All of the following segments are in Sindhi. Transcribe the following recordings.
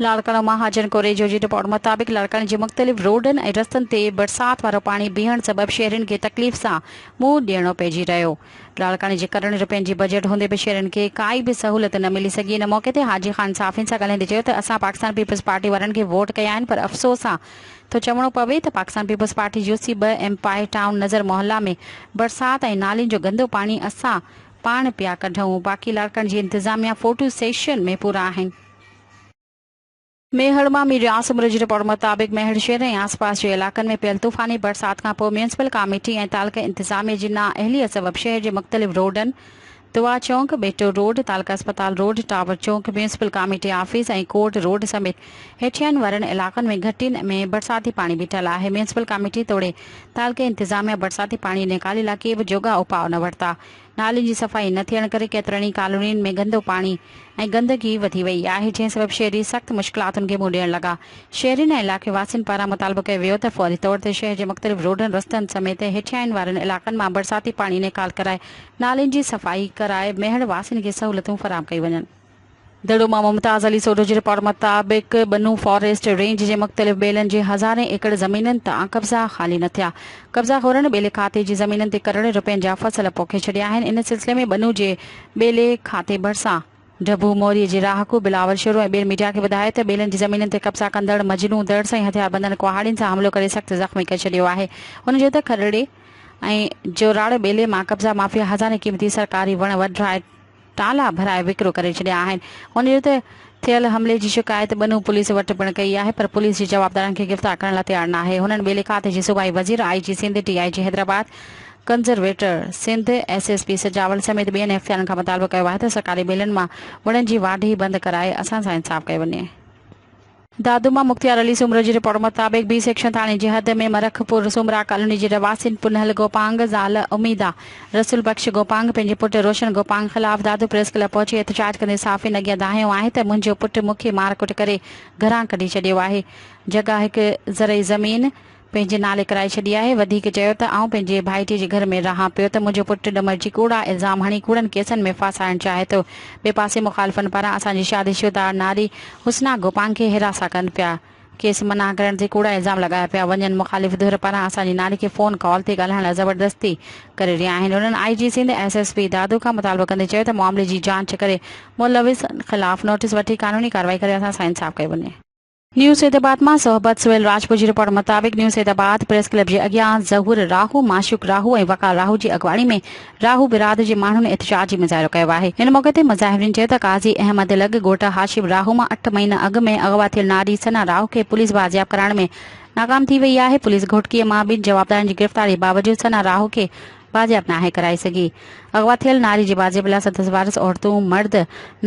لاڙڪاڻو، مهاجن ڪوريجو جي رپورٽ مطابق لاڙڪاڻي جي مختلف روڊن ۽ رستن تي برسات وارو پاڻي بيهڻ سبب شهرين کي تڪليف سان منهن ڏيڻو پئجي رهيو. لاڙڪاڻي جي ڪروڙين روپين جي بجيٽ هوندي به شهرين کي ڪائي به سهولت نه ملي سگهي ان موقعي تي حاجي خان صحافين سان ڳالهائيندي چيو ته اسان پاڪستان پيپلز پارٽي وارن کي ووٽ ڪيا آهن پر افسوس سان ٿو چوڻو پوي ته Pakistan Peoples Party U C ٻه ايم پائي ٽائون نظر محله ۾ برسات ۽ نالين جو گندو پاڻي اسان پاڻ پيا ڪڍون باقي لاڙڪاڻي جي انتظاميا فوٽو سيشن ۾ پورا آهن. ميهڙ مان ميڊيا عاصم رڄ رپورٽ مطابق ميهڙ شهر ۽ آس پاس جي علائقن ۾ پيل طوفاني برسات کانپوء ميونسپل ڪاميٽي ۽ تعلقي انتظاميه جي نا اهليت سبب شهر جي مختلف روڊن دعا چونڪ، ٻيٽو روڊ، تعلقه اسپتال روڊ، ٽاور چونڪ، municipal committee office ۽ court road سميت هيٺيائين وارن علائقن ۾ گهٽين ۾ برساتي پاڻي بيٺل آهي ميونسپل ڪاميٽي توڙي تعلقي انتظاميه برساتي پاڻي نيڪالي لاء ڪي به جوڳا اپاء نه ورتا نالين جي صفائي نه ٿيڻ ڪري ڪيترن ئي ڪالونين ۾ گندو پاڻي ۽ گندگي وڌي وئي آهي جنهن سبب شهري سخت مشڪلاتن کي منهن ڏيڻ لڳا. شهرين ۽ علائقي واسين پاران مطالبو ڪيو ويو ته فوري طور تي شهر جي مختلف روڊن رستن سميت هيٺيائين وارن علائقن مان برساتي پاڻي نيڪال ڪرائي نالين جي صفائي ڪرائي ميهڙ واسين کي سهولتون فراهم ڪيون وڃن. دڙو مان ممتاز علي سوڍو جي رپورٽ مطابق ٻنو فاريسٽ رينج جي مختلف ٻيلن جي هزارين ايڪڙ زمينن تان قبضا خالي نه ٿيا، قبضا خورن ٻيلي کاتي جي زمينن تي ڪرڙين رپين جا فصل پوکي ڇڏيا آهن، ان سلسلي ۾ ٻنو جي ٻيلي کاتي ڀرسان ڊڀو موري جي رهاڪو بلاول شورو ۽ ٻير ميڊيا کي ٻڌايو ته ٻيلن جي زمينن تي قبضا ڪندڙ مجنون دڙس ۽ هٿياربندن ڪهاڙين سان حملو ڪري سخت زخمي ڪري ڇڏيو آهي، هن چيو ته کرڙي ۽ جوراڙ ٻيلي مان قبضا مافيا هزارين قيمتي سرڪاري وڻ وڍرائي تالا ڀرائي وڪرو ڪري ڇڏيا آهن ان جو ته ٿيل حملي جي شڪايت ٻنهون پوليس وٽ پڻ ڪئي آهي پر پوليس جي جوابدارن کي گرفتار ڪرڻ لا تيار ناهي هنن ٻئي لکات جي صوبائي وزير آئي جي سنڌ ڊي آئي جي Hyderabad conservator Sindh S S P Sujawal سميت ٻين اختيارن کان مطالبو ڪيو آهي ته سرڪاري ٻيلن مان وڻن جي واڍي بند ڪرائي اسان سان انصاف ڪيو وڃي. دادوما مختيار علي سومرو جي رپورٽ مطابق بي سيڪشن ٿاڻي جي حد ۾ مرخ پور سومرا ڪالوني جي رھواسين پنھل گوپانگ، زال اميده، رسول بخش گوپانگ پنھنجي پٽ روشن گوپانگ خلاف دادو پريس ڪلب پهچي احتجاج ڪندي صحافين اڳيان دانھيو آھي ته منھنجو پٽ مون کي مارڪٽ ڪري گھران ڪڍي ڇڏيو آھي جڳھه ھڪ زرعي زمين پنهنجي نالي ڪرائي ڇڏي آهي. وڌيڪ چيو ته آئون پنهنجي ڀائيٽي جي گهر ۾ رهان پيو ته منهنجو پٽ ڏمرجي ڪوڙا الزام هڻي ڪوڙن ڪيسن ۾ ڦاسائڻ چاهي ٿو. ٻئي پاسي مخالفن پاران اسان جي شادي شده ناري حسنا گوپانگ کي حراسان ڪن پيا. کيس منع ڪرڻ تي ڪوڙا الزام لڳايا پيا وڃن. مخالف ڌر پاران اسان جي ناري کي فون ڪال تي ڳالهائڻ لاء زبردستي ڪري رهيا آهن. انهن I G Sindh S S P Dadu کان مطالبو ڪندي چيو ته معاملي جي جاچ ڪري ملوثن خلاف نوٽيس وٺي قانوني ڪارروائي ڪري اسان سان انصاف ڪيو وڃي. نيو سيد آباد مان صحبت سهيل راجپوت جي رپورٽ مطابق New Saeedabad press club جي اڳيان ظهور راهو، معشوق راهو ۽ وقار راهو جي اڳواڻي ۾ راهو برادري جي ماڻهن احتجاجي مظاهرو ڪيو آهي. ان موقعي تي مظاهرين چيو ته قاضي احمد لڳ ڳوٺ هاشم راهو مان اٺ مهينا اڳ ۾ اغوا ٿيل ناري ثنا راهو کي پوليس بازياب ڪرائڻ ۾ ناڪام ٿي وئي آهي، پوليس گهوٽڪي مان ٻن جوابدارن جي گرفتاري باوجود ثنا راهو کي واجب ناهي ڪرائي سگهي. اغوا ٿيل ناري جي واجب لاء سندس وارث عورتون، مرد،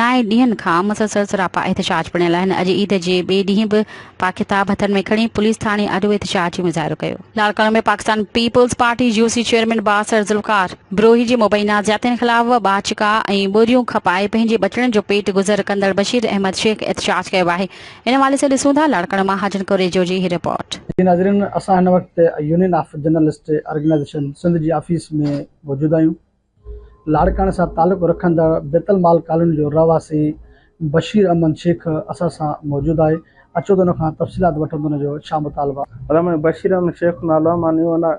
نائين ڏينهن کان مسلسل سراپا احتجاج پڻيل آهن. اڄ عيد جي ٻئي ڏينهن به پاڪ ڪتاب هٿن ۾ کڻي پوليس ٿاڻي آڏو احتجاجي مظاهرو ڪيو. لاڙڪاڻو ۾ پاڪستان پيپلز پارٽي جيو سي چيئرمين بااثر ذوالفقار بروهي جي مبينا زيادتين خلاف ٻاچڪا ۽ ٻوريون کپائي پنهنجي ٻچڙن جو پيٽ گذر ڪندڙ بشير احمد شيخ احتجاج ڪيو آهي. ان حوالي سان ڏسون ٿا لاڙڪاڻو مان حاجن ڪوريجو جي هي رپورٽ. جي ناظرين اسان هن وقت Union of Journalist Organisation Sindh جي آفيس ۾ موجود آهيون لاڙڪاڻي سان تعلق رکندڙ بيت المال ڪالوني جو رهواسي بشير احمد شيخ اسان سان موجود آهي اچو ته ان کان تفصيلات وٺون ته ان جو ڇا مطالبو آهي. مطلب منهنجو بشير احمد شيخ نالو آهي مان نيو انا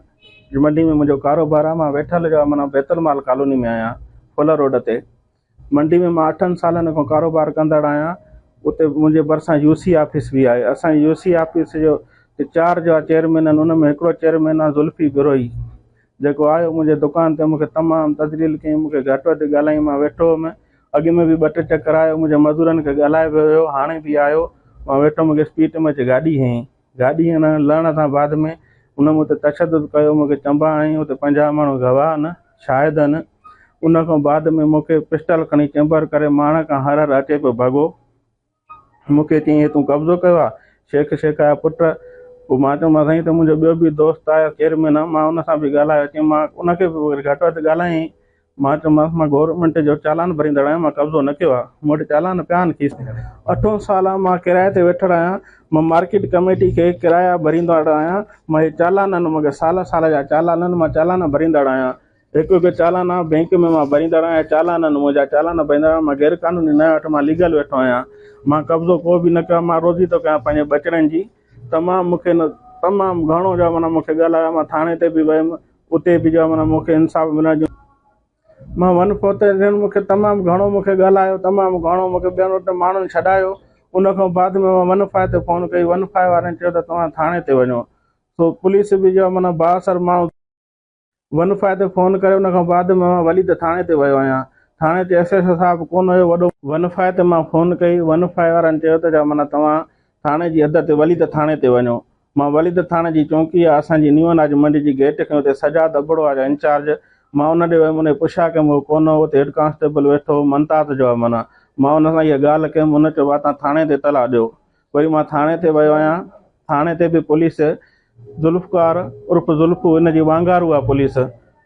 جي منڊي ۾ منهنجو ڪاروبار آهي مان ويٺل جو آهي معنيٰ بيت المال ڪالوني ۾ آهيان ڦولر روڊ تي منڊي ۾ مان اٺن سالن کان ڪاروبار ڪندڙ آهيان اتي منهنجي ڀرسان يو سي آفيس به آهي اسان جي يو سي آفيس جو جي چار جا چيئرمين آهن ان ۾ هڪڙو چيئرمين آهي ذلفي بروهي جيڪو آيو منهنجي دڪان تي مونکي تمام تذليل ڪيائين مونکي گهٽ وڌ ڳالهائين مان ويٺو هئم اڳ ۾ به ٻه ٽي چڪر آيو منهنجي مزورن کي ڳالهائي به ويو هاڻي به آيو مان ويٺو مونکي اسپيٽ ۾ اچي گاڏي هنئي گاڏي هنن لهڻ سان بعد ۾ هن مون تي تشدد ڪيو مون کي چنبا هنئي اتي پنجاهه ماڻهو گواهه آهن شاهد آهن ان کان بعد ۾ مون کي پسٽل کڻي چيمبر ڪري ماڻهن کان هر هر اچي پيو ڀڳو مون کي چيائين هي تون قبضو ڪيو آهي شيخ شيخ جا پٽ پوء مان چيومانس سائين هتي منهنجو ٻيو به دوست آهي چيئرمين آهي مان ان سان به ڳالهايو چيم مان ان کي به گهٽ وڌ ڳالهايائين مان چيومانس مان گورنمينٽ جو چالان ڀريندڙ آهيان مان قبضو نه ڪيو آهي مون وٽ چالان پيا آهن کيس اٺون سال آهي مان ڪرايي تي ويٺڙ آهيان مان مارڪيٽ ڪميٽي کي ڪرايا ڀريندڙ آهيان مان هي چالانن مون کي سال سال جا چالانن مان چالان ڀريندڙ آهيان هڪ هڪ چالانا بينڪ ۾ مان ڀريندڙ آهيان چالانن منهنجا چالان ڀريندڙ آهيان مان غير قانوني نه وٺ مان ليگل ويٺو آهيان مان قبضو ڪو به نه ڪيو آهي مان روزي ٿو ڪريان پنهنجي ٻچڙن جي تمام مون کي تمام گهڻو جو مون کي ڳالهايو مان ٿاڻي تي به ويم اتي به جو معنيٰ مون کي انصاف ملڻ جو مان ون پهتو جن مون کي تمام گهڻو مون کي ڳالهايو تمام گهڻو مون کي ٻين وٽ ماڻهن ڇڏايو ان کان بعد ۾ ون فائو تي فون ڪئي ون فائو وارن چيو ته توهان ٿاڻي تي وڃو سو پوليس به جو معنيٰ بااثر ماڻهو ون فائو تي فون ڪري ان کان بعد ۾ مان وليد ٿاڻي تي ويو آهيان ٿاڻي تي ايس ايس او صاحب ڪونه هيو وڏو ون فائو تي مان فون ڪئي ون فائو وارن چيو ته جو معنيٰ توهان ٿاڻي جي حد تي وليد ٿاڻي تي وڃو مان وليد ٿاڻي جي چونڪي آ اسان جي نيو اناج منڊي جي گيٽ کان اتي سجاد ابڙو آ جا انچارج مان ان ڏي ويم انهي پڇيا ڪيم هو ڪون هو اتي هيڊ ڪانسٽيبل ويٺو هو منتات جو آ منا مان ان سان اها ڳالهه ڪيم ان چيو واتان ٿاڻي تي اطلاع ڏيو وري مان ٿاڻي تي ويو آهيان ٿاڻي تي به پوليس ذوالفقار عرف ذوالفو ان جي وانگارو آ پوليس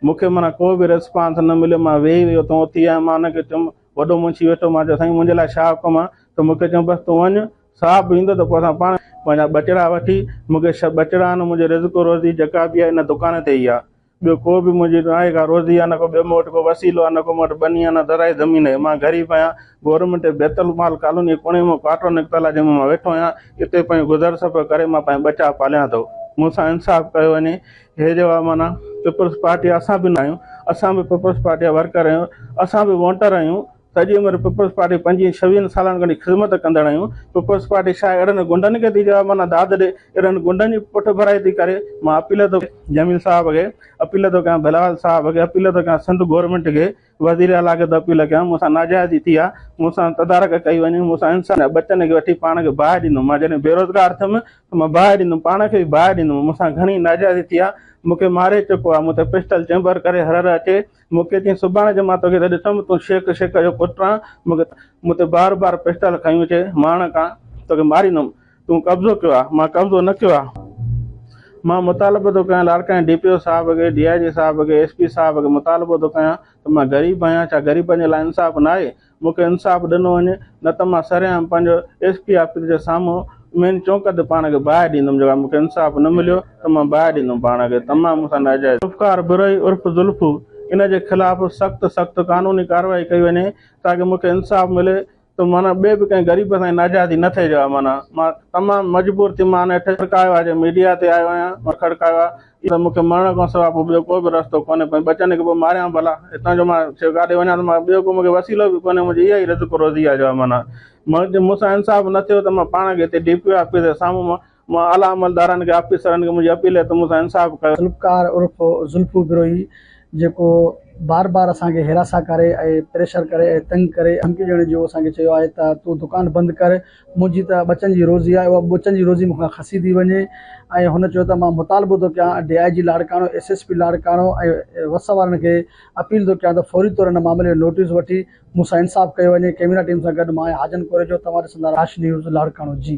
مون کي منا ڪو به ريسپانس نه مليو مان ويهي ويهي اتان اٿي آيم مان ان کي چيم وڏو منشي ويٺو مان چيو سائين منهنجي لاء ڇا حڪم آ ته مون کي چيم بس تون وڃ صاحب به ايندو ته پوء اسان پاڻ پنهنجا ٻچڙا وٺي، مون کي ڇهه ٻچڙا آهن، منهنجي رزق روزي جيڪا به آهي ان دڪان تي ئي آهي، ٻيو ڪو به منهنجي نه آهي ڪا روزي آهي نه ڪو ٻيو مون وٽ ڪو وسيلو آهي نه ڪو مون وٽ ٻني آهي نه ذرائع زمين آهي، مان غريب آهيان، گورنمينٽ بيت المال ڪالوني جي ڪوڻي ۾ ڪوارٽر نڪتل آهي جنهن ۾ مان ويٺو آهيان، اتي پنهنجو گذر سفر ڪري مان پنهنجا ٻچا پاليان ٿو، مون سان انصاف ڪيو وڃي، هي جيڪا معنيٰ پيپلز پارٽي اسان به نه آهيون، اسان به پيپلز پارٽي جا ورڪر آهيون، اسان به وونٽر آهيون، سڄي عمر پيپلز پارٽي پنجين ڇويهن سالن کان خدمت ڪندڙ آهيون پيپلز پارٽي ڇا اهڙن غنڊن کي ٿي جواب معنيٰ داد ڏي اهڙن غنڊن جي پٺ ڀرائي ٿي ڪري مان اپيل ٿو جميل صاحب کي اپيل ٿو ڪيان بلاول صاحب کي اپيل ٿو ڪيان سنڌ گورنمينٽ کي وزير اعليٰ کي ٿو اپيل ڪيان مون سان ناجائزي ٿي آهي مون سان تدارڪ ڪئي وڃي مون سان انسان جا ٻچن کي وٺي پاڻ کي باهه ڏيندم مان جڏهن بيروزگار ٿيم ته مان باهه ڏيندم پاڻ کي به باهه ڏيندم مون سان گهڻي ناجائزي ٿي آهي مون کي ماري چڪو آهي مون تي پسٽل چيمبر ڪري هرر اچي مون کي چيائين، سڀاڻي جي مان توکي ته ڏسم، تون شيخ شيخ جو پٽ آن، مون کي مون تي بار بار پسٽل کنيو اچي، ماڻڪ آن، توکي ماريندم، تون قبضو ڪيو آ، مان قبضو نه ڪيو آ، مان مطالبو ٿو ڪيان لاڙڪاڻي ڊي پي او صاحب کي، ڊي آء جي صاحب کي، ايس پي صاحب کي مطالبو ٿو ڪيان ته مان غريب آهيان، ڇا غريبن جي لاء انصاف ناهي، مون کي انصاف ڏنو وڃي نه ته مان سرعام پنهنجو ايس پي آفيس جي سامهون مين چونڪ تي پاڻ کي باهه ڏيندم جيڪر مون کي انصاف نه مليو ته مان باهه ڏيندم پاڻ کي تمام مون سان ناجائز ذوالفقار برهي عرف زلفو ان جي خلاف سخت سخت قانوني ڪارروائي ڪئي وڃي تاڪه مون کي انصاف ملي ته معنيٰ ٻئي به ڪنهن غريب سان ناجائزي نه ٿئي جيڪر معنيٰ مان تمام مجبور ٿي مان هن کي کڙڪايو آهي جي ميڊيا تي آيو آهيان مان کڙڪايو آهي. ته مون کي مرڻ کان سواء پوء ٻيو ڪو به رستو ڪونهي، پوء ٻچن کي به ماريان ڀلا، هتان جو مان سواء ڪاڏي وڃان ته مان ٻيو ڪو مون کي وسيلو به ڪونهي، منهنجي اها ئي رزق روزي آهي جو معنيٰ جي مون سان انصاف نه ٿيو ته مان پاڻ کي هتي ڊي پي او آفيس جي سامهون مان مان اعليٰ عملدارن کي آفيسرن کي منهنجي اپيل آهي ته مون سان انصاف ڪيو. ذوالفقار عرف ذلفو بروهي جيڪو بار بار اسان کي هراسان ڪري ۽ پريشر ڪري ۽ تنگ ڪري ۽ ڌمڪي ڏيڻ جون اسان کي چيو آهي ته تون دڪان بند ڪر منهنجي ته ٻچن جي روزي آهي اها ٻچن جي روزي مون کان کسي ٿي وڃي ۽ هن چيو ته مان مطالبو ٿو ڪيان D I G Larkana S S P Larkana ۽ وس وارن کي اپيل ٿو ڪيان ته فوري طور هن معاملي جو نوٽيس وٺي مون سان انصاف ڪيو وڃي ڪيميرا ٽيم سان گڏ مان آهيان حاجن ڪوريجو توهان ڏسندا راشد نيوز لاڙڪاڻو جي.